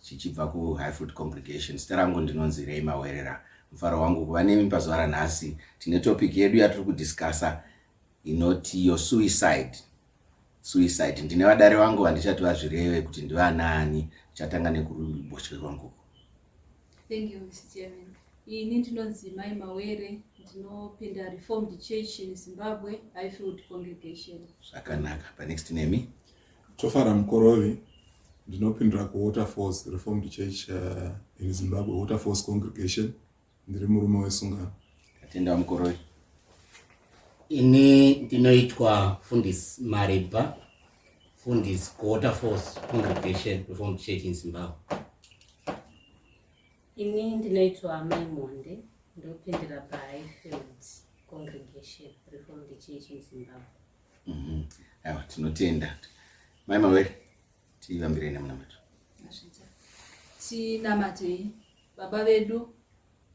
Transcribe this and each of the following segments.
chichibva kuHighfield Congregation. Zita rangu ndinonzi Ray Mawerera. Mufaro wangu kuva nemi pazuva ranhasi. Tine topic yedu yatiri kudiscussa inoti your suicide. Suicide. Ndine vadare vangu vandichati vazvireve kuti ndivanaani. Chatanga nekuruboshwe rwangu. Thank you, Mr. Chairman. Ini ndinonzi Mai Mawere, ndinopinda Reformed Church in Zimbabwe, Highfield Congregation. Zvakanaka. Panext nemi? Tofara Mukorovi, ndinopindura kuWaterfalls Reformed Church uh, in Zimbabwe, Waterfalls Congregation. Ndiri murume wesungano. Tatenda Mukorovi. Ini ndinoitwa Fundisi Mariba, Fundisi kuWaterfalls Congregation Reformed Church in Zimbabwe. Ini ndinoitwa Amai Monde, ndopindira paHighfield Congregation Reformed Church in Zimbabwe. Mhm. Aiwa, tinotenda. Mai Mawere, tivambirei nemunamato. tinamatei baba vedu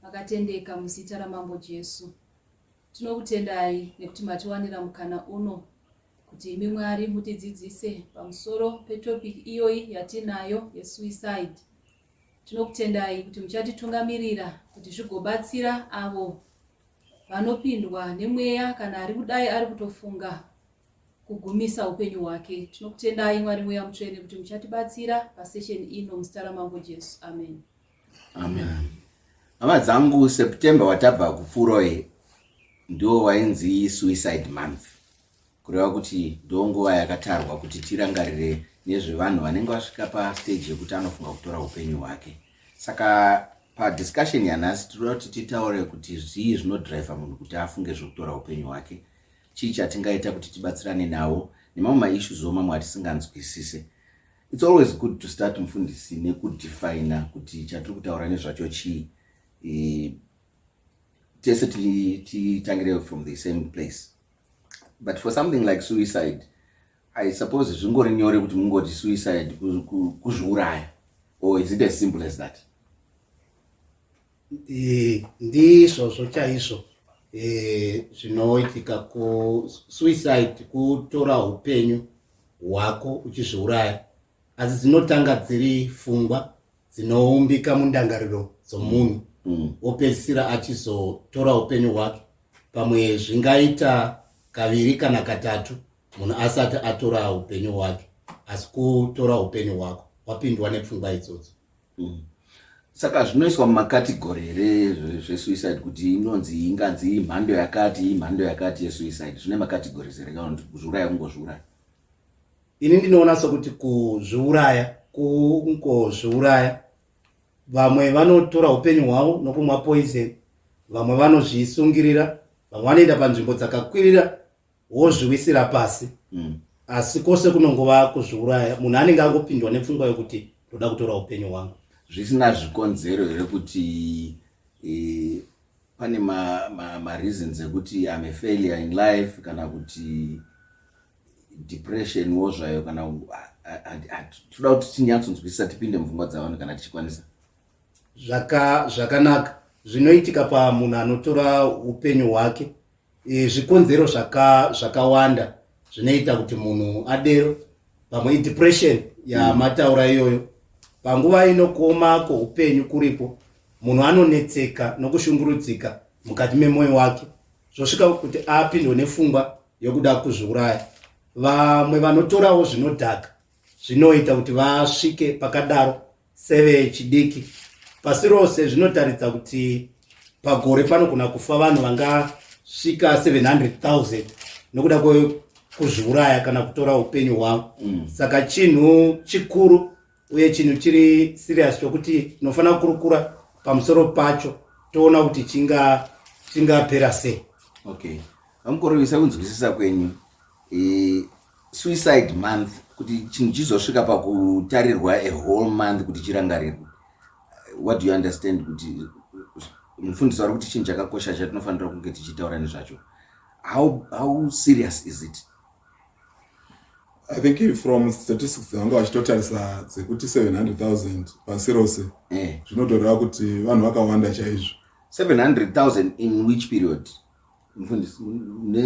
vakatendeka muzita ramambo jesu tinokutendai nekuti matiwanira mukana uno kuti imi mwari mutidzidzise pamusoro petopic iyoyi yatinayo yesuicide tinokutendai kuti muchatitungamirira kuti zvigobatsira avo vanopindwa nemweya kana ari kudai ari kutofunga kugumisa upenyu hwake tinokutendai mwari mweya mutsvene kuti muchatibatsira pasession ino muzita ramambo jesu amen amen hama dzangu september watabva kupfuuroi ndiwo wainzi suicide month Kureva kuti ndonguva yakatarwa kuti tirangarire nezvevanhu vanenge vasvika pastage yekuti anofunga kutora upenyu hwake. Saka padiscussion yanhasi tinoda kuti titaure kuti zvii zvinodriver munhu kuti afunge zvekutora upenyu hwake, chii chatingaita kuti tibatsirane nawo nemamwe maissues wo mamwe atisinganzwisise. It's always good to start mufundisi nekudefina kuti chatiri kutaura nezvacho chii. E, tese titangire from the same place. but for something like suicide i suppose zvingori nyore kuti mungoti suicide kuzviuraya or is it as simple as that eh, ndizvozvo chaizvo eh, zvinoitika kusuicide kutora upenyu hwako uchizviuraya asi dzinotanga dziri fungwa dzinoumbika mundangariro dzomunhu wopedzisira mm. achizotora upenyu hwake pamwe zvingaita kaviri kana katatu munhu asati atora upenyu hwake asi kutora upenyu hwako wapindwa nepfungwa idzodzo mm. saka zvinoiswa mumakategori here zvesuicide kuti inonzi inganzi imhando yakati imhando yakati yesuicide zvine makategori zere kana kuti kuzviuraya kungozviuraya ini ndinoona sokuti kuzviuraya kungozviuraya vamwe vanotora upenyu hwavo nokumwa poison vamwe vanozvisungirira vamwe vanoenda panzvimbo dzakakwirira wozviwisira pasi mm. asi kwose kunongova kuzviuraya munhu anenge angopindwa nepfungwa yokuti ndoda kutora upenyu hwangu zvisina zvikonzero here kuti e, Pane ma, ma, ma reasons ekuti I'm a failure in life kana kuti depression wo zvayo kana toda kuti tinyatsonzwisisa tipinde mupfungwa dzavanhu kana tichikwanisa zvakanaka zvinoitika pamunhu anotora upenyu hwake E, zvikonzero zvaka, zvakawanda zvinoita kuti munhu adero pamwe idepression yamataura iyoyo panguva inokoma kwoupenyu kuripo munhu anonetseka nokushungurudzika mukati memwoyo wake zvosvika kuti apindwe nefungwa yokuda kuzviuraya vamwe vanotorawo zvinodhaka zvinoita kuti vasvike pakadaro sevechidiki pasi rose zvinotaridza kuti pagore panogona kufa vanhu vangasvika 700,000 nokuda kwekuzviuraya kana kutora upenyu hwavo mm. saka chinhu chikuru uye chinhu chiri serious chokuti tinofanira kukurukura pamusoro pacho toona kuti chinga chingapera sei okay vamukorevisa kunzwisisa kwenyu e, suicide month kuti chinhu chizosvika pakutarirwa a whole month kuti chirangarirwe what do you understand kuti mufundisi wari kuti chinhu chakakosha chatinofanira kunge tichitaura nezvacho how, how serious is it i think from statistics dzavanga vachitotarisa dzekuti 700000 pasi rose eh. zvinotoreva kuti vanhu vakawanda chaizvo 700000 in which period mfundisi ne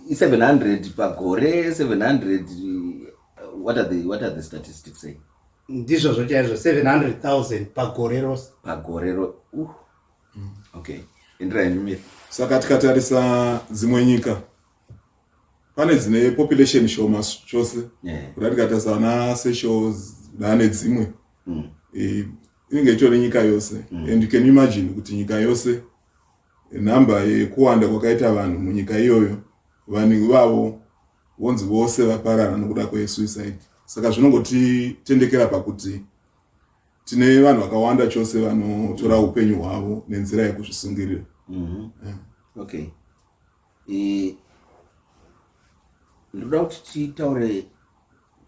i 700 pagore 700 what are the what are the statistics say ndizvo zvochaizvo 700000 pagore rose pagore ro uh. mm. okay endera henyu saka tikatarisa dzimwe nyika pane dzine population shoma chose yeah. kuda tikatarisa ana seshos dane dzimwe mm. e, inenge itori nyika yose mm. and you can imagine kuti nyika yose Nhamba yekuwanda kwakaita vanhu munyika iyoyo, vanhu ivavo vonzi vose vaparara nokuda kwesuicide. Saka zvinongotitendekera pakuti tine vanhu vakawanda chose vanotora upenyu hwavo nenzira yekuzvisungirira. Mm -hmm. yeah. Okay. Eh, ndoda kuti titaure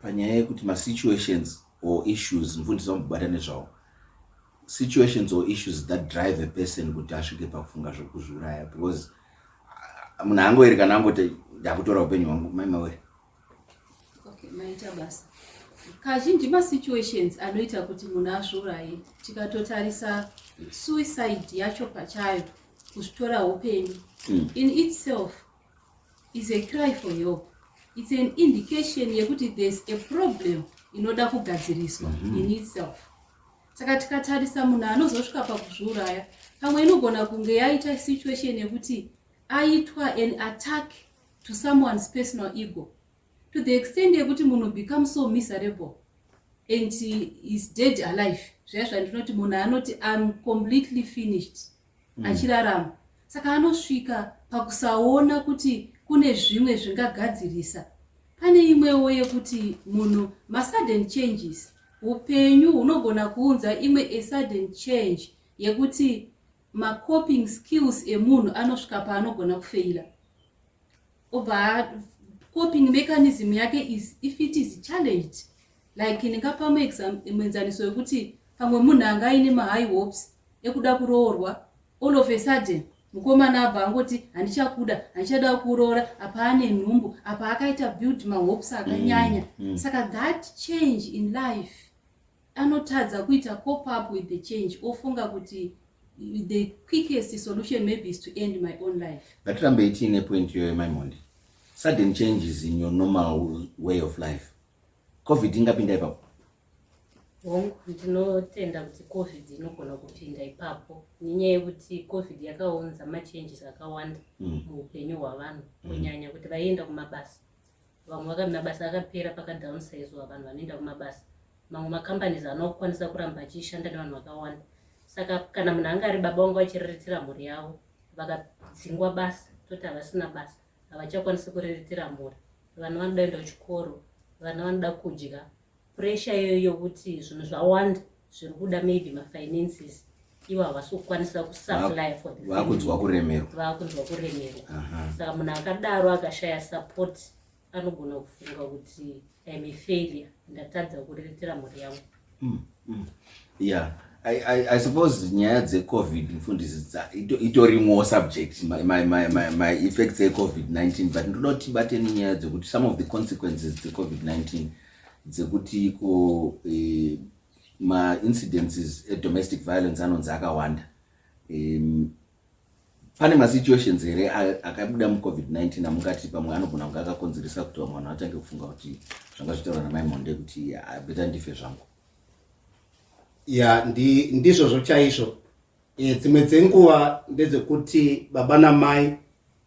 panyaya yekuti masituations or issues mfundisi vambobata nezvawo situations or issues that drive a person kuti asvike pakufunga zvekuzviuraya because ah, munhu angoeri kana angoti ndakutora upenyu hwangu maimawere Okay, maita basa. Kazhinji masituations anoita kuti munhu azviuraye tikatotarisa suicide yacho pachayo kuzvitora upenyu mm. in itself is a cry for help it's an indication yekuti there's a problem inoda kugadziriswa mm -hmm. in itself saka tikatarisa munhu anozosvika pakuzviuraya pamwe inogona kunge yaita situation yekuti aitwa an attack to someone's personal ego to the extent yekuti munhu become so miserable and is dead alive zvaya zvandinoti munhu anoti im completely finished mm. achirarama saka anosvika pakusaona kuti kune zvimwe zvingagadzirisa pane imwewo yekuti munhu masudden changes upenyu hunogona kuunza imwe asudden change yekuti ma coping skills emunhu anosvika paanogona kufeila obva coping mechanism yake is if it is challenged like ndingapa muenzaniso wekuti pamwe munhu anga aine mahigh hopes ekuda kuroorwa all of a sudden mukomana abva angoti handichakuda handichada kuroora apa ane nhumbu apa akaita build mahopes akanyanya mm, mm. saka that change in life anotadza kuita cop up with the change ofunga kuti the quickest solution maybe is to end my own life ngatirambe itiine point iyoyo maimondi sudden changes in your normal way of life covid ingapinda ipapo hongu ndinotenda kuti covid inogona kupinda ipapo nenyaya yekuti covid yakaunza machanges akawanda mm. muupenyu hwavanhu mm. kunyanya kuti vaienda kumabasa vamwe vakati mabasa akapera pakadownsizwa vanhu vanoenda kumabasa mamwe macompanies haana kukwanisa kuramba achishanda nevanhu vakawanda saka kana munhu anga ari baba vanga vachiriritira mhuri yavo vakadzingwa basa toti havasina basa havachakwanisi kuriritira mhuri vana vanoda kuenda kuchikoro vana vanoda kudya pressure iyoyo yokuti zvinhu zvawanda zviri kuda maybe mafinances ivo havasi kukwanisa kusupply for the vakunzwa kuremerwa vakunzwa kuremerwa saka munhu akadaro akashaya support anogona kufunga kuti im a failure ndatadza kuriritira mhuri yangu hmm. Mm. Yeah. I, I, I suppose nyaya dzecovid mfundisi itorimwo subject my, my, my, my, my effects ecovid-19 but ndoda kuti tibate nenyaya dzekuti some of the consequences dzecovid-19 dzekuti iko eh, maincidences edomestic violence anonzi akawanda um, Pane masituations here akabuda mucovid-19 amungati pamwe anogona kunge akakonzeresa kuti vamwe vanhu vatange kufunga kuti zvanga zvitaura namai monde kuti beta ndife zvangu ya ndi, ndizvozvo chaizvo e, dzimwe dzenguva ndedzekuti baba namai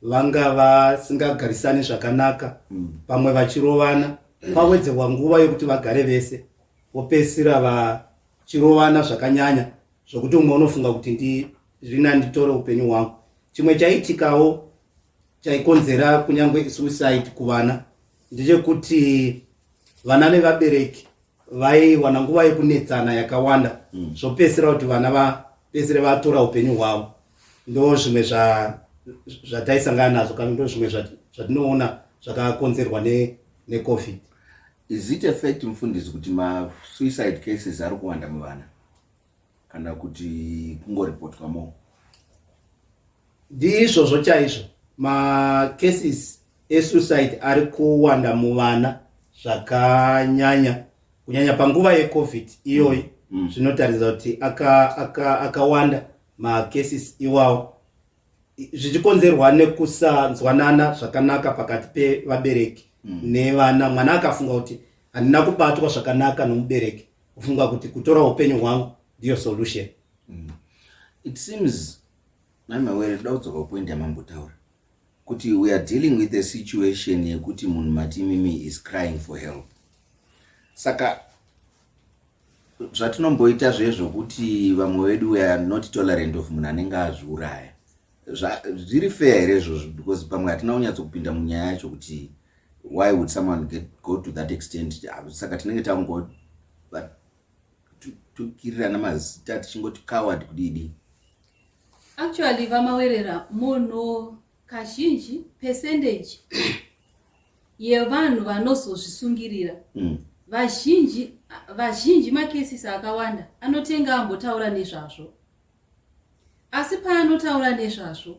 vanga vasingagarisani zvakanaka mm. pamwe vachirovana pawedzerwa nguva yekuti vagare vese vopesira vachirovana zvakanyanya zvokuti umwe unofunga kuti ndizvina nditore upenyu hwangu chimwe chaitikawo chaikonzera kunyange suicide kuvana ndechekuti vana nevabereki vaiwana nguva yekunetsana yakawanda mm. zvopedzisira kuti vana vapedzisire vatora upenyu hwavo ndo zvimwe zvataisangana nazvo kana ndo zvimwe zvatinoona zvakakonzerwa necovid is it effect mufundisi kuti masuicide cases ari kuwanda muvana kana kuti kungoripotwa mo ndizvozvo chaizvo macases esuicide ari kuwanda muvana zvakanyanya kunyanya panguva yecovid iyoyi mm. mm. zvinotaridza mm. kuti akawanda aka, aka macases iwawo zvichikonzerwa nekusanzwanana zvakanaka pakati pevabereki mm. nevana mwana akafunga kuti Handina kubatwa zvakanaka nomubereki kufunga kuti kutora upenyu hwangu ndiyo solution. Mm. It seems mai Mawere toda kudzoka kupoint yamambotaura kuti we are dealing with a situation yekuti munhu mati mimi is crying for help. Saka zvatinomboita zvezvokuti vamwe vedu we are not tolerant of munhu anenge azviuraya zviri fair here izvozvo because pamwe hatina kunyatso kupinda munyaya yacho kuti why would someone get, go to that extent ah, saka tinenge tangotukirirana mazita tichingoti coward kudidi actually vamawerera munhu kazhinji percentage yevanhu vanozozvisungirira mm. vazhinji vazhinji makesisi akawanda anoti enge ambotaura nezvazvo asi paanotaura nezvazvo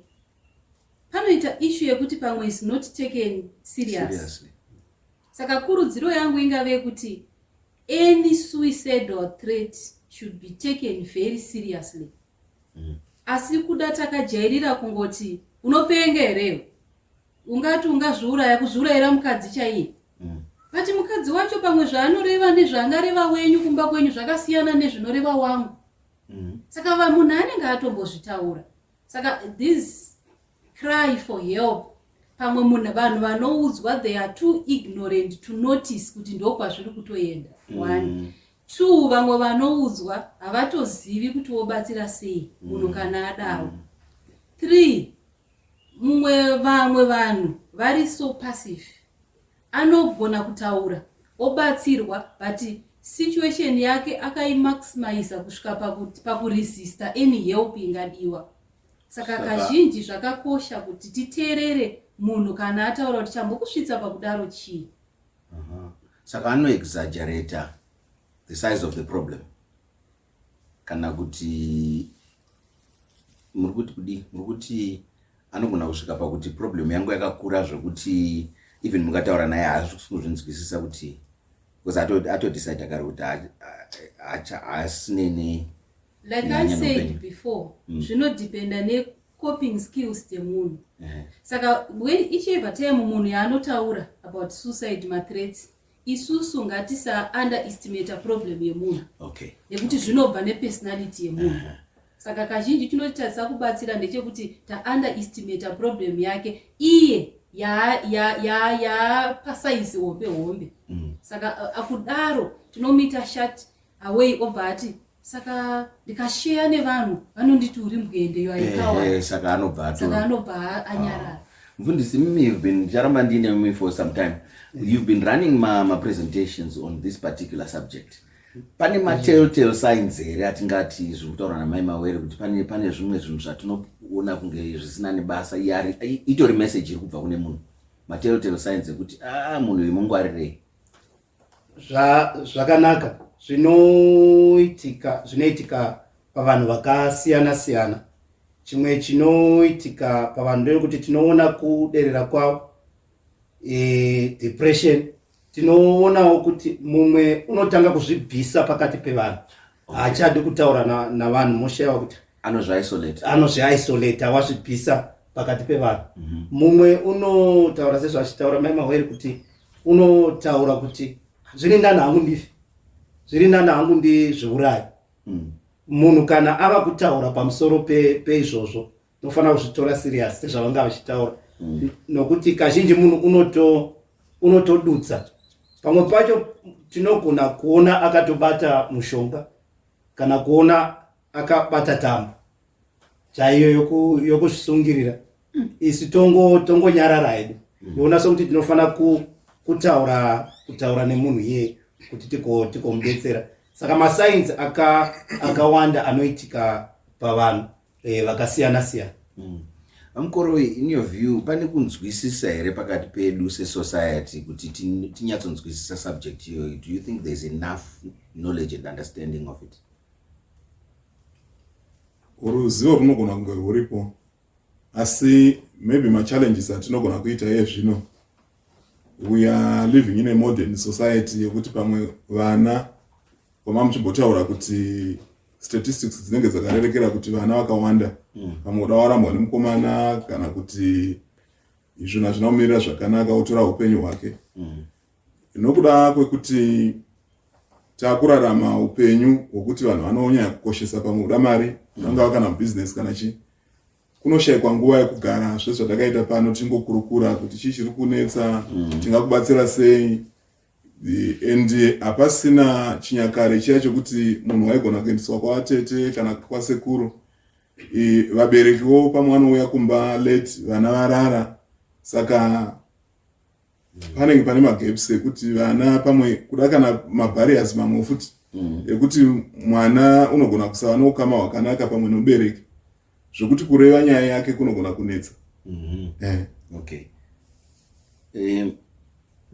panoita ishu yekuti pamwe is not taken seriously saka kurudziro yangu ingave yekuti any suicidal threat should be taken very seriously mm. asi kuda takajairira kungoti unopenga here ungati ungazviuraya kuzviurayira mukadzi chaiye mm. but mukadzi wacho pamwe zvaanoreva nezvaangareva wenyu kumba kwenyu zvakasiyana nezvinoreva wangu mm. saka vamunhu anenge atombozvitaura saka this cry for help pamwe munhu vanhu vanoudzwa they are too ignorant to notice kuti ndokwazviri kutoenda mm. one mm. two vamwe vanoudzwa havatozivi kuti wobatsira sei mm. munhu mm. kana adawo mm. three mumwe vamwe vanhu vari so passive Anogona kutaura obatsirwa but situation yake akaimaximaisa kusvika pakuti pakuresista any help ingadiwa. Saka Saka- kazhinji zvakakosha kuti titeerere munhu kana ataura kuti chambokusvitsa pakudaro chii. Aha. Saka anoexaggerator the size of the problem. kana kuti muri kuti kudii muri kuti anogona kusvika pakuti problem yangu yakakura zvekuti even mukataura naye haasi kuzvinzwisisa kuti bcause atodecide kare kuti hasinene like i said before hmm. zvinodependa mm. necoping skills dzemunhu saka when each ever time munhu yaanotaura about suicide mathreats isusu ngatisa under estimator problem yemunhu okay. nekuti zvinobva nepersonality yemunhu uh -huh saka kazhinji chinotitadzisa kubatsira ndechekuti taunder estimata problem yake iye yaapasaizi hombe hombe mm. saka akudaro tinomuita shat away obva ati saka ndikasheya nevanhu vanonditi uri mbwende yo aikawa Eh, eh, saka anobva saka atora anobva a- anyarara mfundisi mimi you've been ndicharamba ndiine mimi for some time you've been running ma, ma presentations on this particular subject pane ma telltale signs here atingati zviri kutaura namai mawere kuti pane pane zvimwe zvinhu zvatinoona kunge zvisina nebasa iye ari i- itori message iri kubva kune munhu ma telltale signs ekuti a munhu uyu mungwarirei zva, zvakanaka zvinoitika zvinoitika pavanhu vakasiyana siyana chimwe chinoitika pavanhu ndeyekuti tinoona kuderera kwavo e, depression tinoonawo kuti mumwe unotanga kuzvibvisa pakati pevanhu haachadi kutaura navanhu na moshayiwa kuti anozviisolate anozviisolate awazvibvisa pakati pevanhu mhm. mumwe mm -hmm. unotaura sezvachitaura mai mahwere kuti unotaura kuti zviri ndani hangu ndife zviri ndani hangu ndizviurayi mm. munhu mm. kana ava kutaura pamusoro peizvozvo pe unofanira kuzvitora serious sezvavanga vachitaura mm. nokuti kazhinji munhu unoto unotodutsa pamwe pacho tinogona kuona akatobata mushonga kana kuona akabata tambo chaiyo yokusungirira yoku mm. isu tongonyarara tongo hedu mm. yoona sokuti tinofanira ku, kutaura kutaura nemunhu iye kuti tikomubetsera tiko saka masainzi akawanda aka anoitika pavanhu e, vakasiyana siyana mm. amkoroi in your view pane kunzwisisa here pakati pedu sesociety kuti tinyatsonzwisisa subject iyoyo do you think thereis enough knowledge and understanding of it ruzivo runogona kunge rwuripo asi maybe machallenges atinogona kuita iye zvino we are living in a modern society yekuti pamwe vana kwama muchimbotaura kuti statistics dzinenge dzakarerekera kuti vana vakawanda mm. pamwe kuda warambwa nemukomana kana kuti izvona zvinomirira zvakanaka otora upenyu hwake mm. Nokuda kwekuti takurarama upenyu hwokuti vanhu vanonyanya kukoshesa pamwe kuda mari vangava kana business kana chii kunoshaikwa nguva yekugara zve zvatakaita pano tingokurukura kuti chii chiri kunetsa mm. tingakubatsira sei and hapasina chinyakare chiya chokuti munhu waigona kuendeswa kwavatete kana kwasekuru vaberekiwo pamwe vanouya kumba late vana varara saka panenge pane magaps ekuti vana pamwe kuda kana mabariers mamwe futi mm. ekuti mwana unogona kusava noukama hwakanaka pamwe nobereki zvekuti kureva nyaya yake kunogona kunetsa mm-hmm. eh. okay eh,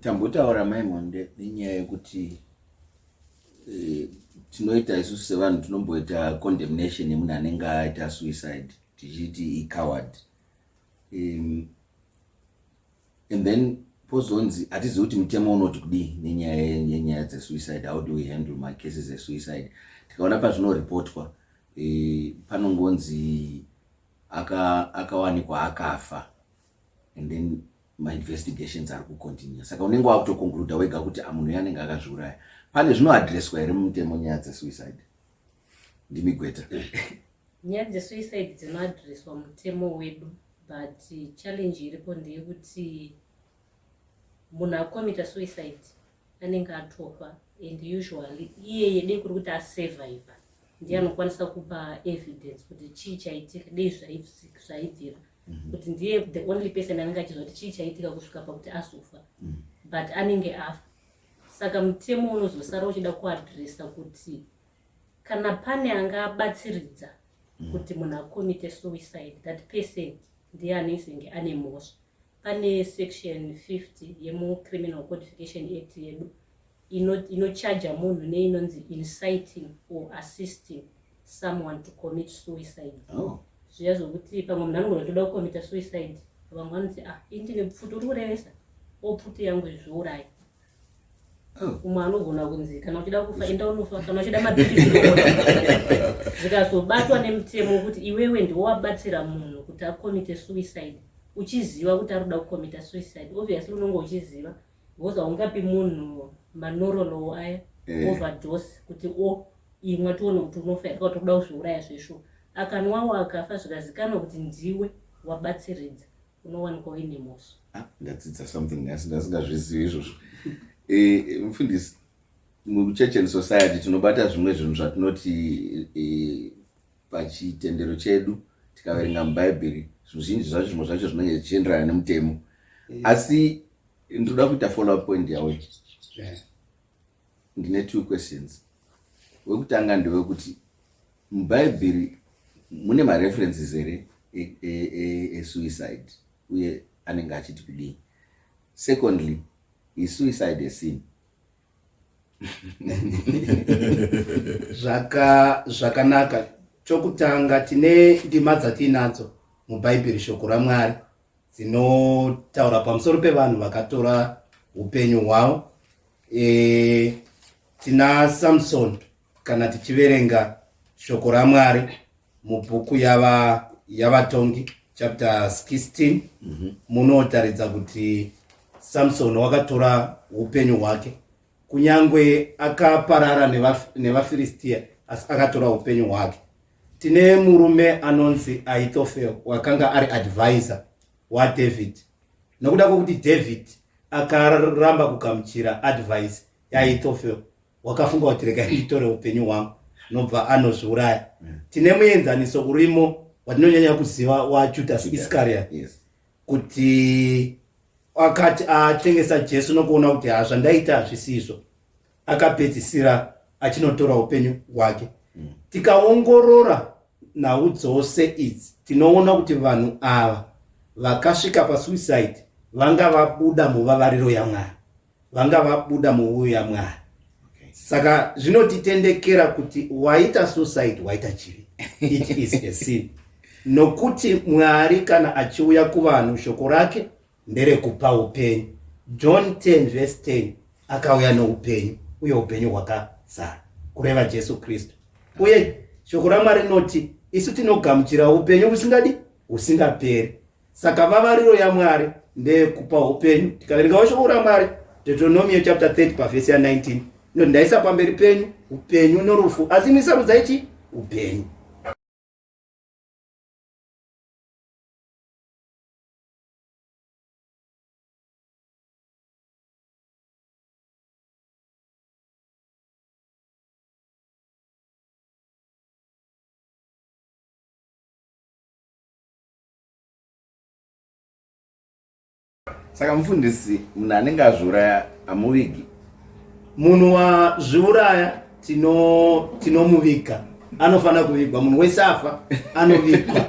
tambotaura mai monde nenyaya yekuti eh, tinoita isusu sevanhu tinomboita condemnation yemunhu anenge aita suicide tichiti icoward um, and then pozonzi hatizivi kuti mutemo unoti kudii nenyaya yenyaya dzesuicide how do we handle macases esuicide tikaona pazvinoripotwa e, panongonzi akawanikwa aka akafa and then mainvestigations ari kucontinue saka unenge wakutoconcluda wega kuti ah, munhu uyo anenge akazviuraya pane zvinoadresswa here mumutemo nyaya dzesuicide ndimi gweta nyaya dzesuicide dzinoadreswa mutemo wedu but challenge iripo ndeyekuti munhu akomita suicide anenge atofa and usually iyeye dei kuri kuti asurvive ndiye anokwanisa kupa evidence kuti chii chaitika dei zvaibvira mhm. kuti ndiye the only person anenge achiziva kuti chii chaitika kusvika pakuti azofa mhm. but anenge afa Saka mutemo unozosara uchida kuadresa kuti kana pane anga abatsiridza mm. kuti munhu akomite suicide that person ndiye anoisenge ane mhosva pane section 50 yemucriminal codification act yedu inochaja ino munhu neinonzi inciting or assisting someone to commit suicide oh. zviya zvokuti pamwe munhu anogona toda kukomita suicide vamwe vanoti ah ini ndine pfuti uri kurevesa o pfuti yangu izviurayi oh. umwe anogona kunzi kana uchida kufa enda unofa kana uchida mabhirisi zvikazobatwa nemutemo wekuti iwewe ndiwo wabatsira munhu kuti akomite suicide uchiziva kuti ari kuda kukomita suicide obviously unonge uchiziva because haungapi munhu manorolowo aya eh. overdose kuti o oh, imwa tione kuti unofa here kuti kuda kuzviuraya zveshuwa akanwawo akafa zvikazikanwa kuti ndiwe wabatsiridza unowanikwa uine mhosva ah, ndadzidza something nhasi ndasingazvizivi izvozvo eh, mufundisi muchurch and society tinobata zvimwe zvinhu zvatinoti eh, Pachitendero chedu tikaverenga muBhaibheri zvizhinji zvacho zvimwe zvacho zvinenge zvichienderana nemutemo yeah. asi ndinoda kuita follow up point yawe yeah. ndine two questions wekutanga ndewekuti muBhaibheri mune mareferences here esuicide e, e, e uye anenge achiti kudii secondly is suicide a sin Zvaka, zvakanaka. Chokutanga, tine ndima dzatiinadzo muBhaibheri, Shoko raMwari, dzinotaura pamusoro pevanhu vakatora upenyu hwavo. E, tina Samsoni Kana tichiverenga shoko raMwari mubhuku yava yavatongi chapter 16 mhm. munotaridza mm -hmm. kuti samsoni wakatora upenyu hwake kunyange akaparara nevafiristiya neva asi akatora upenyu hwake tine murume anonzi aitofel wakanga ari advisor wadavid nokuda kwokuti david akaramba kugamuchira advice yaitofel wakafunga kuti rega nditore upenyu hwangu nobva anozviuraya mm. tine muenzaniso urimo watinonyanya kuziva wajudas iscariot kuti akati atengesa jesu nokuona kuti ha zvandaita hazvisizvo akapedzisira achinotora upenyu hwake mm. tikaongorora nhau dzose idzi tinoona kuti vanhu ava vakasvika pasuicide vanga vabuda muvavariro yamwari vanga vabuda muvuyo yamwari saka zvinotitendekera kuti waita suicide waita chivi it is a sin nokuti mwari kana achiuya kuvanhu shoko rake nderekupa upenyu john 10 vese 10 akauya noupenyu uye upenyu hwakazara kureva jesu kristu uye shoko ramwari rinoti isu tinogamuchira upenyu husingadi husingaperi Saka vavariro yaMwari ndeyekupa upenyu. Tikaverengawo shoko raMwari, Deuteronomio chapter 30 pavhesi ya19, inoti ndaisa pamberi penyu upenyu norufu, asi imi sarudzai chii? Upenyu. saka mufundisi munhu anenge azviuraya hamuvigi munhu wazviuraya tinomuviga tino anofanira kuvigwa munhu wese afa anovigwa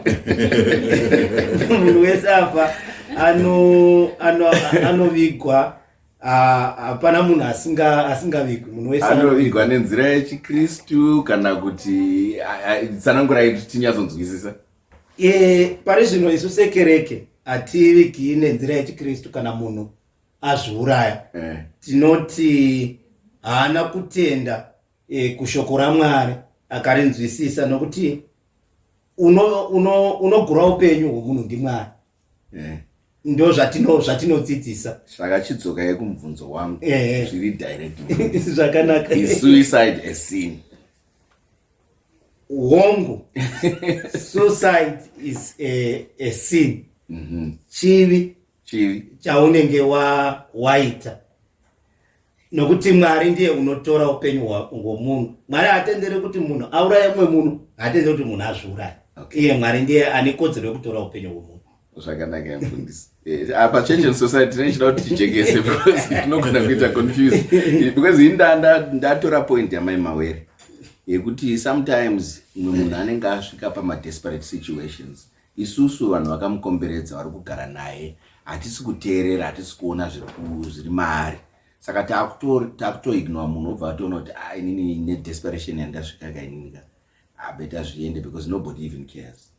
munhu wese afa anovigwa ano, ano hapana munhu asingavigwi munhu wese anovigwa nenzira yechikristu kana kuti tsanangurai kuti tinyatsonzwisisa E, pari zvino isu sekereke hativigii nenzira yechikristu kana munhu azviuraya eh. tinoti haana kutenda e, kushoko ramwari akarinzwisisa nokuti unogura uno, uno upenyu hwomunhu ndimwari eh. ndo zvatino zvatinodzidzisa saka chidzoka yekumubvunzo wangu eh, eh. zviri direct zvakanaka is suicide a sin hongu suicide is a, a sin mm -hmm. chivi chivi chaunenge wa waita nokuti mwari ndiye unotora upenyu hwomunhu mwari haatendere kuti munhu auraye mumwe munhu haatendere kuti munhu azviuraye okay. iye mwari ndiye ane kodzero yekutora upenyu hwomunhu zvakanaka mfundisi eh, apa church and society tine chida kuti tijekese because tinogona kuita confuse because ini ndatora point yamai mawere yekuti sometimes mumwe munhu anenge asvika pamadesperate situations Isusu vanhu vakamukomberedza vari kugara naye hatisi kuteerera hatisi kuona zviri maari saka takutoignore munhu obva atoona kuti a ah, inini nedesperation yandasvika ka inini ka abeta ah, zviende because nobody even cares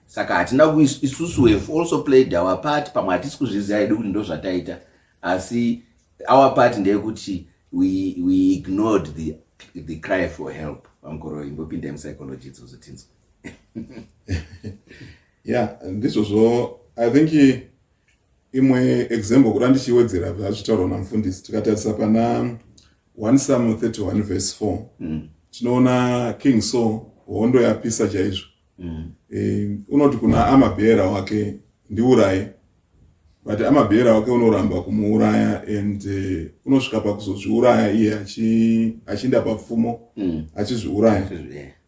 saka hatina isusu have also played our part pamwe hatisi kuzviziva hedu kuti ndozvataita asi our part ndeyekuti we, we ignored the, the cry for help vamukoroi mbopindai musycology idzozo tinzwa yeah ndizvozvo i think imwe example kuda ndichiwedzera zvazvitaurwa namufundisi tikatarisa pana 1 samuel 31 verse 4 mm. tinoona king saul hondo yapisa chaizvo mm. e, unoti kuna amabheera wake ndiuraye but amabheera wake unoramba kumuuraya and uh, unosvika pakuzozviuraya iye achiinda papfumo mm. achizviuraya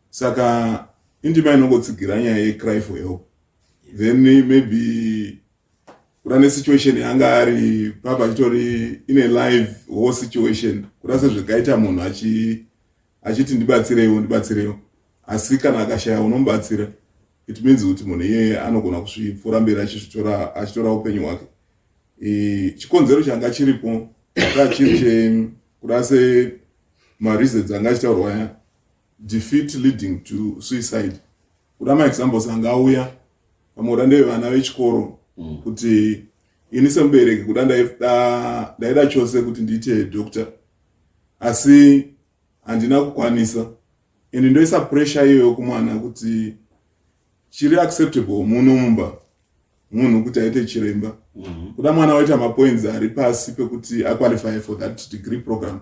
saka indima inongotsigira nyaya yecry for help then maybe kuda nesituation yanga ari papa achitori ine live war situation kuda sezvekaita munhu achiti ndibatsireiwo ndibatsireiwo asi kana akashaya unomubatsira it means kuti munhu iyeye anogona kusvipfuura mberi achizvitora achitora upenyu hwake chikonzero changa chiripo anga chiri chekuda se mareasons anga achitaurwa aya Defeat leading to suicide. Kuda ma examples anga auya pamwe kuda ndevana vechikoro mm. kuti ini semubereki kuda ndaida chose kuti ndiite doctor asi handina kukwanisa and ndoisa pressure iyoyo kumwana kuti chiri acceptable muno mumba munhu kuti aite chiremba mm -hmm. kuda mwana waita mapoints ari pasi pekuti aqualify for that degree program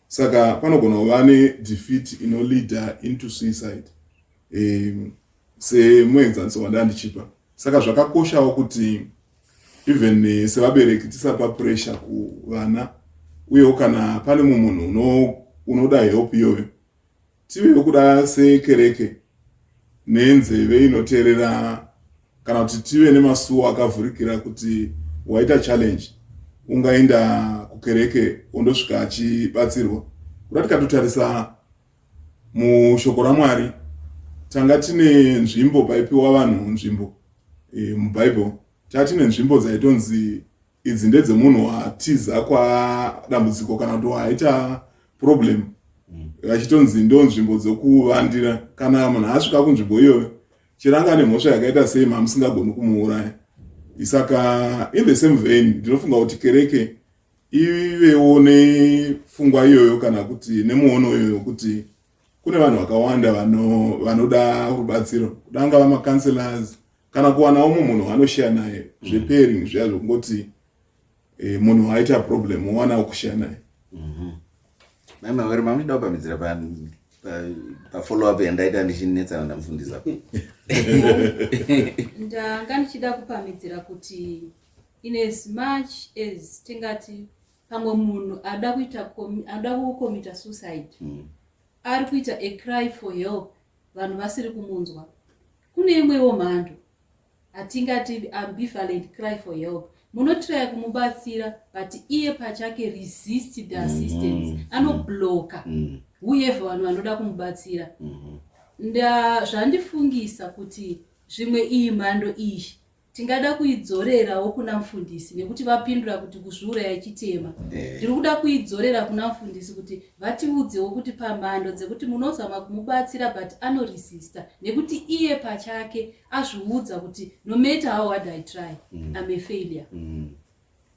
Saka panogona kuva nedefeat inoleader into suicide um, semuenzaniso wandandichipa saka zvakakoshawo kuti even eh, sevabereki tisapa pressure kuvana uyewo kana pane mumwe munhu unoda help iyoyo Tive nokuda sekereke nenzeve inoteerera kana kuti tive nemasuwo akavhurikira kuti waita challenge ungaenda kukereke ondosvika achibatsirwa kuda tikatotarisa mushoko ramwari tanga tine nzvimbo paipiwa vanhu nzvimbo e, mubhaibheri taa tine nzvimbo dzaitonzi Idzi ndedzemunhu atiza kwadambudziko kana kuti waaita problem vachitonzi ndo nzvimbo dzokuvandira kana munhu asvika kunzvimbo iyoyo chero anga ane mhosva yakaita sei mamusingagoni kumuuraya isaka in the same vein ndinofunga kuti kereke ivewo nefungwa iyoyo kana kuti nemuono iyoyo kuti kune vanhu vakawanda vanoda rubatsiro kudangava macounselors kana kuwana umwe munhu waanoshare naye zvepairing zviya zvekungoti eh, munhu waaita problem wowana wokushare naye Mhm. Mai Mawere mamuchida kupamidzira pa pa- pa follow up yandaita ndichinetsana ndamufundisa. ndanga ndichida kupamidzira kuti in as much as tingati pamwe munhu ada kuita comi- ada kukomita suicide Mm. ari kuita a cry for help vanhu vasiri kumunzwa. Kune imwewo mhando hatingati ambivalent cry for help munotiraya kumubatsira but iye pachake resist the mm-hmm. assistance mm -hmm. anobloka mm -hmm. whoever vanhu vanoda kumubatsira mm -hmm. ndazvandifungisa kuti zvimwe iyi mhando iyi Tingada kuidzorerawo kuna mfundisi nekuti vapindura kuti kuzviuraya chitema. Eh. Ndiri kuda kuidzorera kuna mfundisi kuti vatiudzewo kuti pamhando dzekuti munozama kumubatsira but anoresista nekuti iye pachake azviudza kuti no matter how hard I try, mm. I'm a failure. Mm.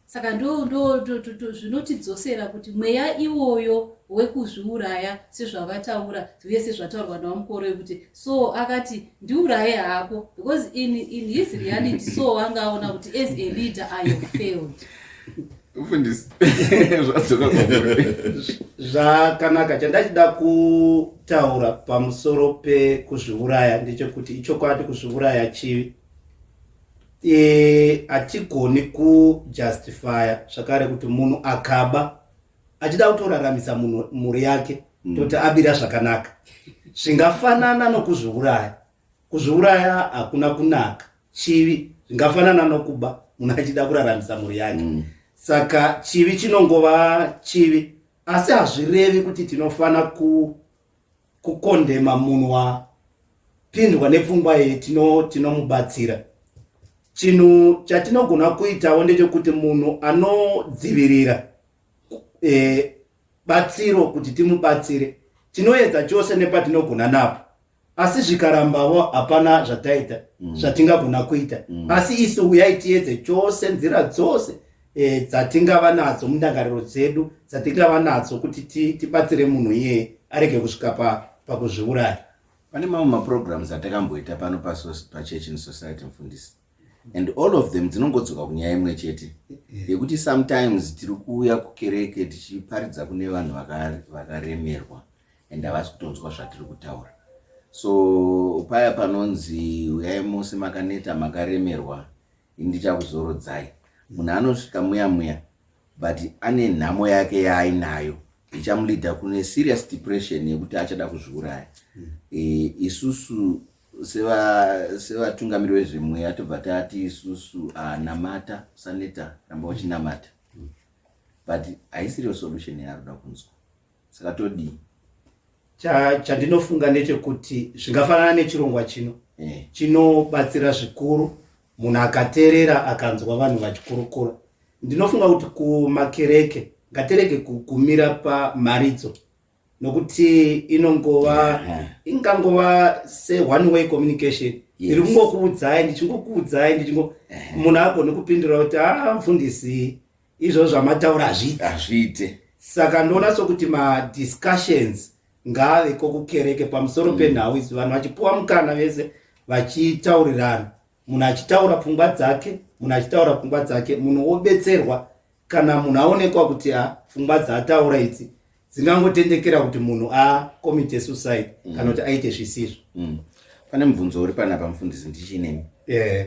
saka ndo ndo to, to, to, zvinotidzosera kuti mweya iwoyo wekuzviuraya sezvavataura uye sezvataurwa navamukoro yekuti so akati ndiuraye hako because in, in his reality so anga aona kuti as a leader i have failed mfundisi zvadzoka zvakanaka chandachida kutaura pamusoro pekuzviuraya ndechekuti ichokwadi kuzviuraya chivi hatigoni e, kujustifya zvakare kuti munhu akaba achida kutoraramisa munhu mhuri yake mm. toti abira zvakanaka zvingafanana nokuzviuraya kuzviuraya hakuna kunaka chivi zvingafanana nokuba munhu achida kuraramisa mhuri yake mm. saka chivi chinongova chivi asi hazvirevi kuti tinofanira kukondema munhu wapindwa nepfungwa iyi tinomubatsira tino chinhu chatinogona kuitawo ndechekuti munhu anodzivirira e, batsiro kuti timubatsire tinoedza chose nepatinogona napo asi zvikarambavo hapana zvataita mm. zvatingagona kuita mm. asi isu uyai tiedze chose nzira dzose e, dzatingava nadzo mundangariro dzedu dzatingava nadzo kuti tibatsire ti munhu iyeye arege kusvika pakuzviuraya pane mamwe maprograms atakamboita pano pachurch in society mfundisi and all of them dzinongodzoka kunyaya imwe chete yekuti sometimes tiri kuuya kukereke tichiparidza kune vanhu vakaremerwa and havasi kutonzwa zvatiri kutaura so paya panonzi uyai mose makaneta makaremerwa Ini ndichakuzorodzai. Munhu anosvika muya muya but ane nhamo yake yaainayo ichamuleader kune serious depression yekuti achada kuzviuraya. Mm. E, isusu sevatungamiri vezvemweya tobva tati isusu ah, namata usaneta ramba uchinamata but haisiriyo solution yaari kuda kunzwa saka todii chandinofunga ndechekuti zvingafanana nechirongwa chino eh. chinobatsira zvikuru munhu akaterera akanzwa vanhu vachikurukura ndinofunga kuti kumakereke ngatereke kumira pamharidzo nokuti inongova eh. ingangova seone way communication ndiri kungokuudzai ndichingokuudzai ndichingo eh. munhu agone kupindura kuti aa ah, mfundisi izvo zvamataura hazviite hazviite saka ndoona sokuti madiscussions ngaave kokukereke pamusoro mm. penhau izi vanhu vachipuwa mukana vese vachitaurirana munhu achitaura pfungwa dzake munhu achitaura pfungwa dzake munhu wobetserwa kana munhu aonekwa kuti a pfungwa dzaataura idzi dzingangotendekera kuti munhu acommite suicide mm. kana kuti aite zvisizvo mm. pane mubvunzo uri panapa mufundisi ndichinemi yeah.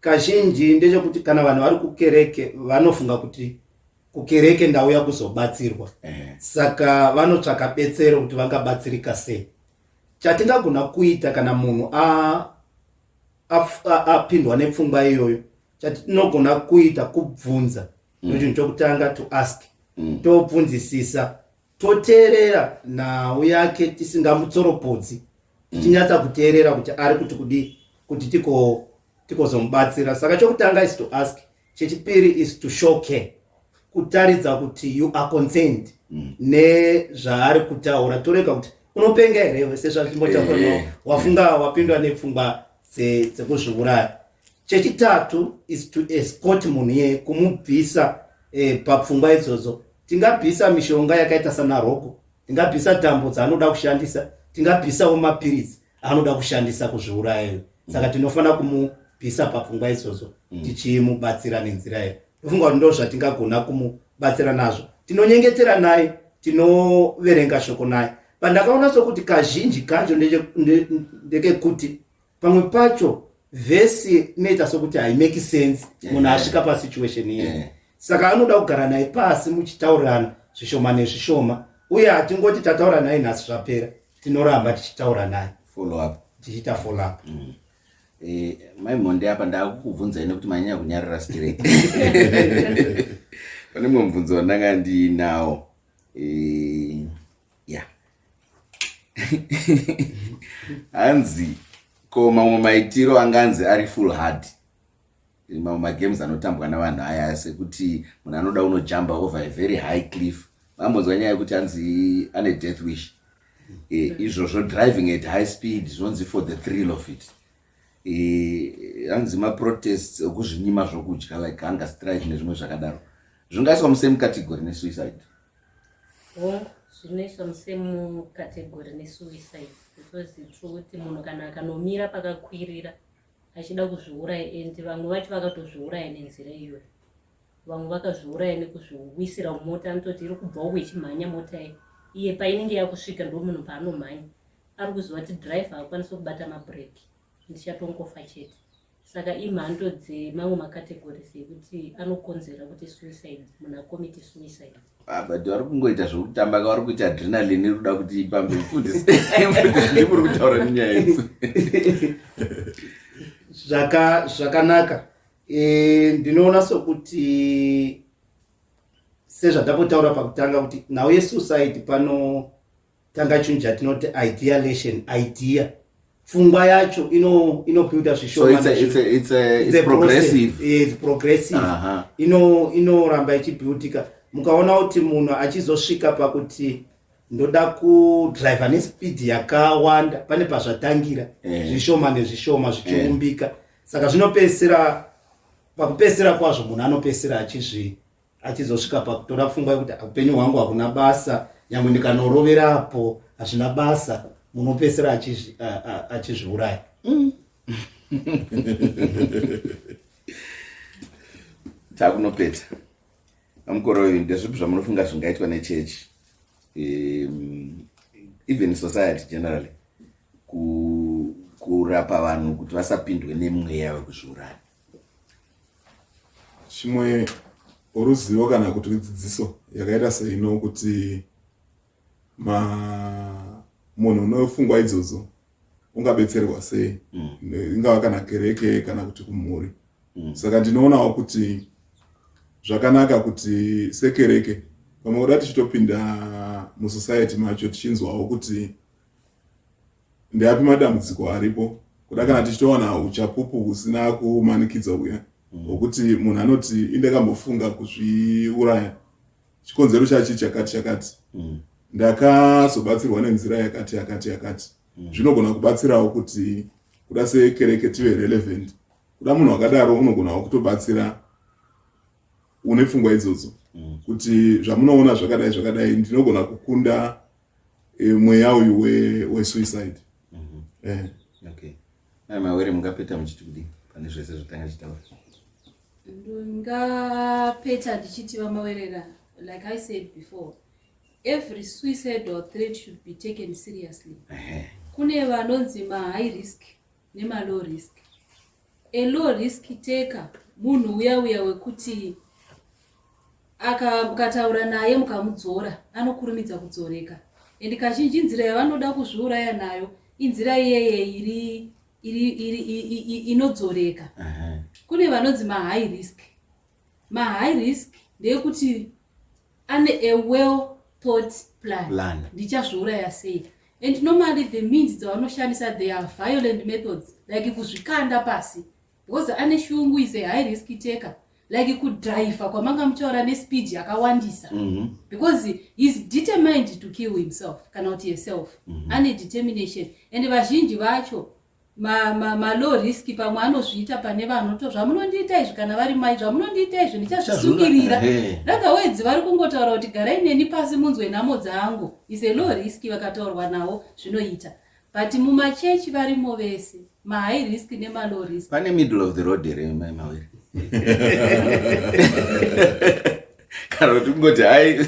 Kazhinji ndechekuti kana vanhu vari kukereke vanofunga kuti kukereke ndauya kuzobatsirwa saka vanotsvaka betsero kuti vangabatsirika sei chatingagona kuita kana munhu apindwa nepfungwa iyoyo chatinogona kuita kubvunza mm. nochinhu chokutanga to ask mm. tobvunzisisa toteerera nhau yake tisingamutsoropodzi tichinyatsa kuteerera kuti ari kuti kudii kuti tiko tikozomubatsira saka chokutanga is to ask chechipiri is to show care kutaridza kuti you are concerned mm. nezvaari kutaura torega kuti unopenga here wese zvazvimbo chako no eh. wafunga wapindwa nepfungwa dzekuzviuraya chechitatu is to escort munhu iyeye kumubvisa eh, papfungwa idzodzo tingabvisa mishonga yakaita sanaroko tingabvisa tambo dzaanoda kushandisa tingabvisawo mapiritsi anoda kushandisa kuzviurayayo saka tinofanira kumubvisa papfungwa idzodzo mm. tichimubatsira nenzira iyo ndofunga kuti ndo zvatingagona kumubatsira nazvo tinonyengetera naye tinoverenga shoko naye pandakaona sokuti kazhinji kacho ndekekuti pamwe pacho vhesi inoita sokuti haimeki sense eh. munhu asvika pasituation iye eh. saka anoda kugara naye pasi muchitaurirana zvishoma nezvishoma uye hatingoti tataura naye nhasi zvapera tinoramba tichitaura naye tichiita follow-up mm. eh, mai monde apa ndakukubvunzai nekuti manyanya kunyarira straight pane mumwe mubvunzo wandanga ndiinawo ya hanzi ko mamwe maitiro anganzi ari full hard mamwe magames anotambwa navanhu aya sekuti munhu anoda unojamba over a very high cliff vambonzwa nyaya yekuti hanzi ane death wish e, izvozvo driving at high speed zvinonzi for the thrill of it e, hanzi e, maprotests okuzvinyima zvokudya like hunger strike nezvimwe zvakadaro zvingaiswa musame category nesuicide Hongu zvinoiswa musemu category nesuicide because true kuti munhu kana akanomira pakakwirira achida kuzviuraya and vamwe vacho vakatozviuraya nenzira iyoyo vamwe vakazviuraya nekuzviwisira mota anototi iri kubva uku ichimhanya mota iyi iye painenge yakusvika ndomunhu paanomhanya ari kuziva kuti driver akwanisi kubata mabreki ndichatongofa chete saka imhando dzemamwe macategories ekuti anokonzera kuti suicide munhu akomite suicide ah, but vari kungoita zvekutamba ka vari kuita adrenalin iri kuda kuti ipambe mfundisi ndimuri kutaura nenyaya idzi zvakanaka eh, ndinoona sokuti sezvatapotaura pakutanga kuti nhau yesuicide pano tanga chinhu chatinoti idealation idea pfungwa yacho inobuilda zvishomaprogressive inoramba ichibuildika mukaona kuti munhu achizosvika pakuti ndoda kudriva nespeed yakawanda pane pazvatangira eh. zvishoma nezvishoma zvichiumbika eh. saka zvinopedzisira pakupedzisira kwazvo munhu anopedzisira achizvii achizosvika pakutora pfungwa yekuti upenyu hwangu hakuna basa nyangwe ndikanoroverapo hazvina basa munopesera achizviuraya mm. takunopeta amukore uyu ndezvipi zvamunofunga zvingaitwa nechechi um, even society generally kurapa vanhu kuti vasapindwe nemweya wekuzviuraya chimwe ruzivo kana kuti dzidziso yakaita seino kuti ma munhu unofungwa idzodzo ungabetserwa sei mm. ingava kana kereke kana kuti kumhuri mm. saka ndinoonawo kuti zvakanaka kuti sekereke pamwe kuda tichitopinda musociety macho tichinzwawo kuti Ndeapi madambudziko aripo kuda kana tichitowana uchapupu husina kumanikidza huya mm. hwokuti mm. munhu anoti indakambofunga kuzviuraya chikonzero chachi chakati chakati mm. ndakazobatsirwa nenzira yakati yakati yakati mm. zvinogona mm. kubatsirawo kuti kuda sekereke tive relevant kuda munhu akadaro unogonawo kutobatsira une pfungwa idzodzo mm. kuti zvamunoona zvakadai zvakadai ndinogona kukunda Eh, mweya uyu wesuicide mhm. eh. okay mai mawere mungapeta muchiti kudii pane zvese zvatanga chitaura ndingapeta ndichiti vamawerera like i said before every suicidal threat should be taken seriously kune vanonzi mahigh risk nema low risk a low risk taker munhu uya uya wekuti akataura naye mukamudzora anokurumidza kudzoreka and kazhinji nzira yavanoda kuzviuraya nayo inzira iyeye iri iri iri inodzoreka kune vanonzi mahigh risk Ma high risk ndeyekuti ane a well thought plan, plan. ndichazviuraya sei and normally the means dzavanoshandisa they are violent methods like kuzvikanda pasi because ane shungu is a high risk taker like kudriver kwamanga muchaura nespeed yakawandisa mm -hmm. because heis determined to kill himself kana kuti yeself mm -hmm. ane determination and vazhinji vacho ma, ma, ma low risk pamwe anozviita pane vanhu to zvamunondiita izvi kana vari mai zvamunondiita izvi ndichazvisungirira rather words vari kungotaura kuti garai neni pasi munzwe nhamo dzangu is a low risk vakataurwa nawo zvinoita but mumachechi varimo vese mahigh risk nemalow risk pane middle of the road here maimawiri kana kuti kungoti hai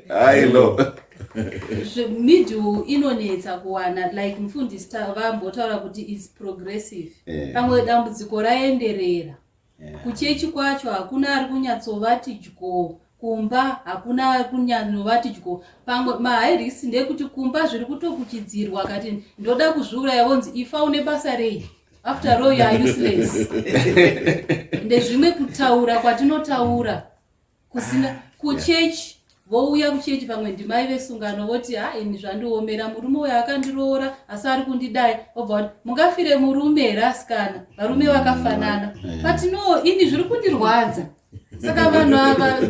hai lo middle inonetsa kuwana like mufundisi vambotaura kuti is progressive eh. pamwe dambudziko raenderera eh. kuchechi kwacho hakuna ari kunyatsovati dyo kumba hakuna kunyanovati dyo pamwe mahairisi ndekuti kumba zviri kutokuchidzirwa kati ndoda kuzviuraya vonzi ifa une basa rei after all you are useless ndezvimwe kutaura kwatinotaura kusina ah, kuchechi vouya kuchechi pamwe ndimai vesungano voti ha ini zvandiomera murume uyo akandiroora asi ari kundidai obva kuti mungafire murume here asikana varume mm, vakafanana eh. but no ini zviri kundirwadza saka vanhu ava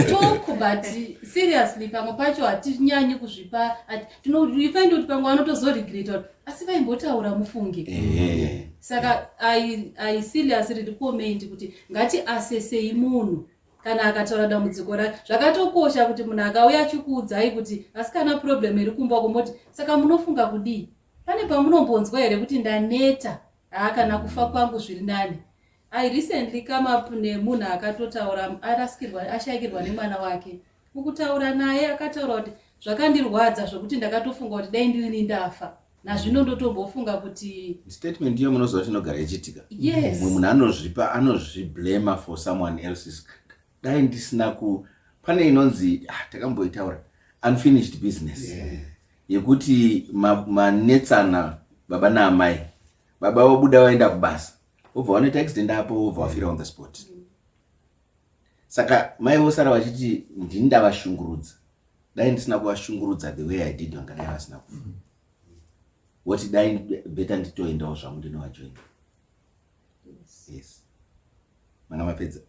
talk but seriously pamwe pacho hatinyanyi kuzvipa tinoifaindi kuti pamwe vanotozoregreta asi vaimbotaura mufunge eh. saka i serious riri comment kuti Ngatiasesei munhu kana akataura dambudziko rake. Zvakatokosha kuti munhu akauya achikuudzai kuti asikana problem iri kumba uko moti saka munofunga kudii? Pane pamunombonzwa here kuti ndaneta? Haa kana kufa kwangu zviri nani. I recently come up nemunhu akatotaura arasikirwa ashaikirwa nemwana wake. Mukutaura naye akataura kuti zvakandirwadza zvekuti ndakatofunga kuti dai ndirini ndafa. nazvino ndotombofunga kuti statement iyo munoziva chinogara ichiitika yes mumwe munhu anozvipa anozviblema for someone else's dai ndisina ku pane inonzi ah, takamboitaura unfinished business yeah. yekuti manetsana ma baba naamai baba vobuda vaenda kubasa vobva vanoita accident apo vobva vafira on the spot mm. saka mai vosara vachiti ndini ndavashungurudza dai ndisina kuvashungurudza the way i did vangadai vasina kufa mm-hmm. woti dai beta nditoendawo zvangu ndinovajoina yes manga mapedza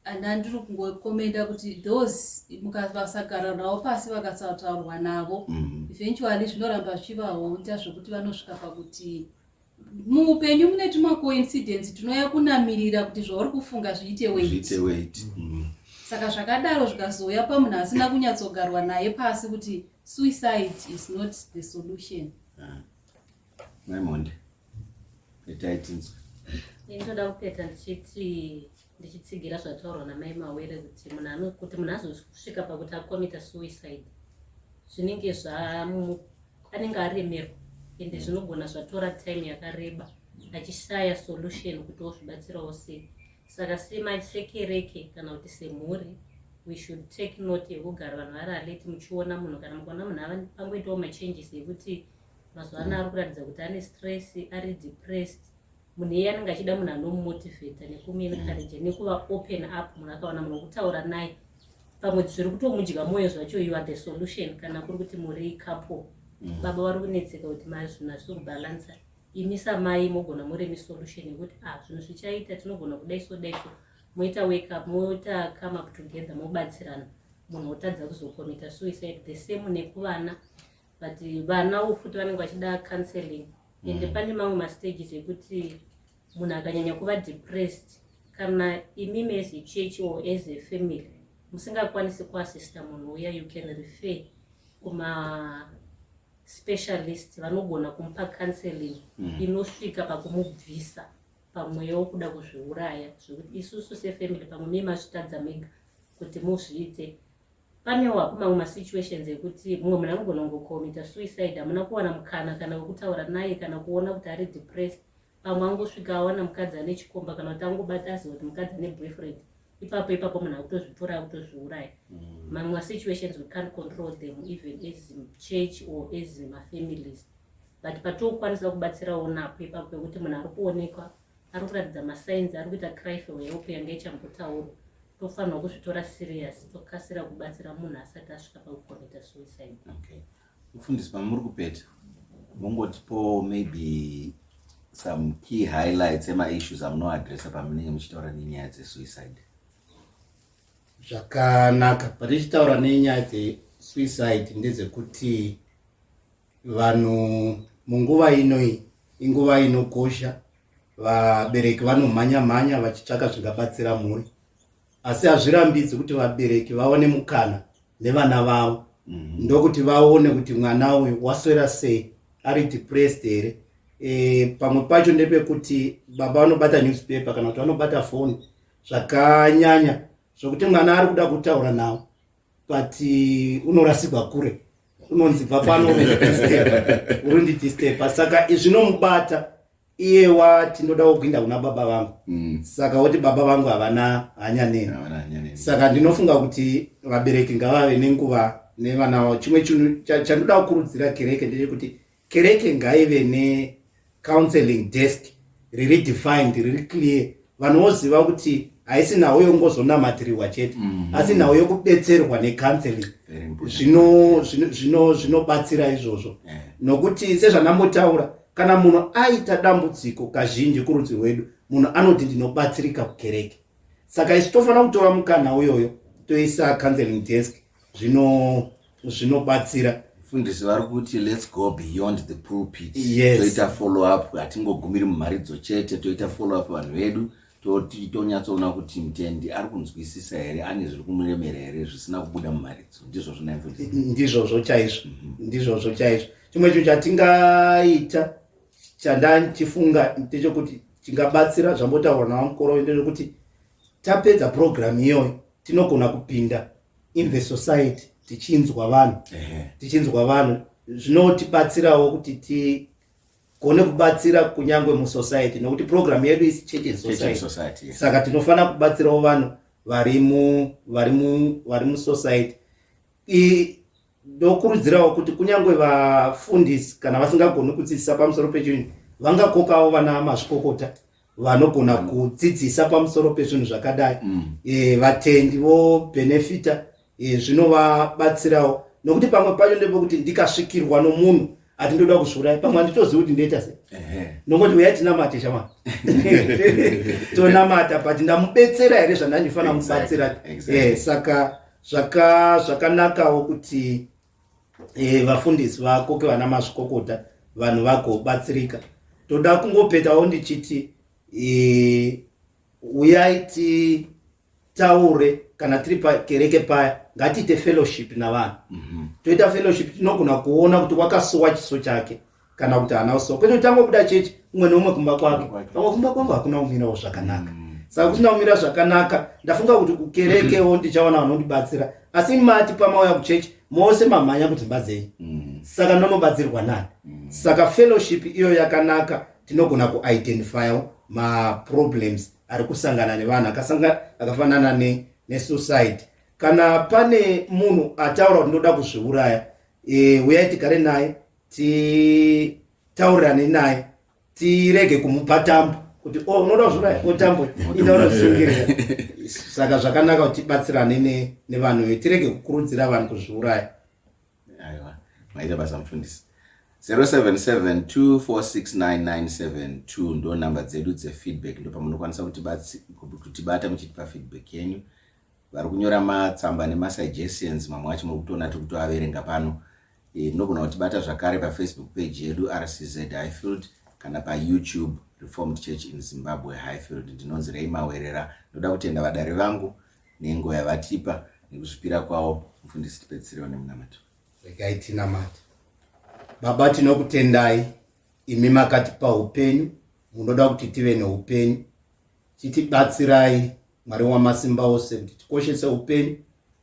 and andiri kungokomenda kuti those mukavasagara navo pasi vakasataurwa navo mm-hmm. eventually zvinoramba zvichivaonda zvekuti vanosvika pakuti muupenyu mune tuma coincidence tinoya kunamirira kuti zvauri kufunga zviite weit mm. saka zvakadaro zvikazouya pamunhu asina kunyatsogarwa naye pasi kuti suicide is not the solution ah. maimonde petaitinzwa ndoda kupeta ndichiti ndichitsigira zvataurwa namai mawere kuti munhu kuti munhu azosvika pakuti akomita suicide zvinenge zvamu anenge aremerwa ende mm. zvinogona zvatora time yakareba achishaya solution kuti ozvibatsirawo sei saka semasekereke kana kuti semhuri we should take note yekugara vanhu vari aleti muchiona munhu kana mukaona munhu ava pangoitawo machanges ekuti mazuva ano ari kuratidza kuti ane stress ari depressed munhu iye anenge achida munhu anomumotivheta nekumuencourage nekuva open up munhu akawana munhu wekutaura naye pamwe zviri kutomudya mwoyo zvacho you are the solution kana kuri kuti muri couple mm. baba vari kunetseka kuti mari zvinhu hazvisi kubalansa imi samai mogona muri mi solution yekuti a ah, zvinhu zvichaita tinogona kudai so dai so moita wake up moita come up together mobatsirana munhu otadza kuzokomita suicide the same nekuvana but vana wo futi vanenge vachida counseling ende mm. pane mamwe mastages ekuti munhu akanyanya kuva depressed kana imi as a church or as a family musingakwanisi kuassista munhu uya you can refer kuma specialist vanogona kumupa counseling mm. inosvika pakumubvisa pamweya wokuda kuzviuraya zvekuti isusu sefamily pamwe mie mazvitadza mega kuti muzviite Panewa kumamwe masituations ekuti mumwe munhu anogona kungocommita suicide hamuna kuwana mukana kana wekutaura naye kana kuona kuti ari depressed pamwe angosvika awana mukadzi ane chikomba kana kuti angobata aziva kuti mukadzi ane boyfriend ipapo ipapo munhu akutozvitora akutozviuraya mm. mamwe masituations we can't control them even as church or as mafamilies but patokwanisa kubatsirawo napo ipapo pekuti munhu ari kuonekwa ari kuratidza masigns ari kuita cry for help yanga ichambotaurwa tofanirwa kuzvitora serious tokasira kubatsira munhu asati asvika pakukomita suicide okay. mufundisi pamuri kupeta mongotipowo maybe some key highlights emaissues amunoadressa pamunenge muchitaura nenyaya dzesuicide zvakanaka patichitaura nenyaya dzesuicide ndedzekuti Vanhu munguva inoi inguva inokosha, vabereki vanomhanya mhanya vachitsvaka zvingabatsira mhuri, asi hazvirambidzi kuti vabereki vaone mukana nevana vavo mm. ndokuti vaone kuti mwana uyu waswera sei, ari depressed here e, pamwe pacho ndepekuti baba vanobata newspaper kana kuti vanobata foni zvakanyanya zvokuti mwana ari kuda kutaura nawo but uh, unorasigwa kure unonzi bva pano urindidisteba saka zvinomubata iye wati ndoda wokuinda kuna baba vangu mm. saka woti baba vangu havana hanya neni saka ndinofunga kuti vabereki ngavave nenguva nevana vavo chimwe chinhu chandoda kukurudzira kereke ndechekuti Kereke ngaive ne counseling desk riri defined riri clear vanhu voziva kuti haisi nhau yongozonamatirirwa chete mm. asi nhau yokubetserwa necounseling zvinobatsira zvino, zvino izvozvo yeah. nokuti sezvanambotaura kana munhu aita dambudziko kazhinji kurudzi rwedu munhu anoti ndinobatsirika kukereke saka isu tofanira kutora mukana uyoyo toisa counseling desk zvino zvinobatsira fundisi vari kuti let's go beyond the pulpit yes. toita follow up hatingogumiri mumharidzo chete toita follow up vanhu vedu tonyatsoona kuti mtendi ari kunzwisisa here ane zviri kumuremera here zvisina kubuda mumharidzo ndizvozvo naimfundisi ndizvozvo chaizvo mhm. ndizvozvo chaizvo chimwe chinhu chatingaita chandandichifunga ndechokuti chingabatsira zvambotaura navamukoro ndechokuti tapedza program iyoyo tinogona kupinda in the society tichinzwa vanhu tichinzwa vanhu zvinotibatsirawo kuti tigone kubatsira kunyange musociety nokuti program yedu is church and society saka tinofanira kubatsirawo vanhu vari mu vari mu vari musociety ndokurudzirawo kuti kunyange vafundisi kana vasingagoni kudzidzisa pamusoro pechinhu vangakokawo vana mazvikokota vanogona mm. kudzidzisa pamusoro pezvinhu zvakadai mm. e, vatendi vobenefita e, eh, zvinovabatsirawo nokuti pamwe pacho ndepekuti ndikasvikirwa nomunhu ati ndoda kuzviuraya pamwe handitozivi kuti ndoita se nongoti uyai tinamate shama tonamata but ndamubetsera here zvandandifanira mubatsira exactly. exactly. e, saka zvakanakawo kuti e, vafundisi vakoke vana mazvikokota vanhu vagobatsirika toda kungopetawo ndichiti e, uyai titaure kana tiri pakereke paya ngatiite fellowship navanhu mm -hmm. toita fellowship tinogona kuona kuti wakasuwa chiso chake kana kuti haana kusuwa kwete kuti angobuda chechi umwe neumwe kumba kwake pamwe kumba kwangu hakuna kumirawo zvakanaka mm. saka kusina kumira zvakanaka ndafunga kuti kukerekewo ndichaona vanondibatsira asi mati pamauya kuchechi mose mamhanya kuti mbadzei mm. saka ndonobatsirwa nani mm. saka fellowship iyo yakanaka tinogona kuidentifyawo maproblems ari kusangana nevanhu akafanana nesuicide kana pane munhu ataura kuti ndoda kuzviuraya e, uyai tigare naye titaurirane naye tirege kumupa tambo kuti o oh, unoda kuzvura otambo ita unozvingirira saka zvakanaka kuti tibatsirane nevanhu ve tirege kukurudzira vanhu kuzviuraya aiwa maita basa mufundisi 0772469972 ndo nhamba dzedu dzefeedback ndo pamunokwanisa kutibata muchitipa feedback yenyu vari kunyora matsamba nemasuggestions mamwe acho muri kutoona tiri kutoaverenga pano E, munogona kutibata zvakare pafacebook page yedu rcz highfield kana payoutube reformed church in zimbabwe highfield ndinonzi rei mawerera ndoda kutenda vadare vangu nengo yavatipa nekuzvipira kwavo mufundisi tipedzisire vane munamato regai tinamati baba tinokutendai imi makatipa upenyu munoda kuti tive neupenyu chitibatsirai mwari wamasimba ose kuti tikoshese upenyu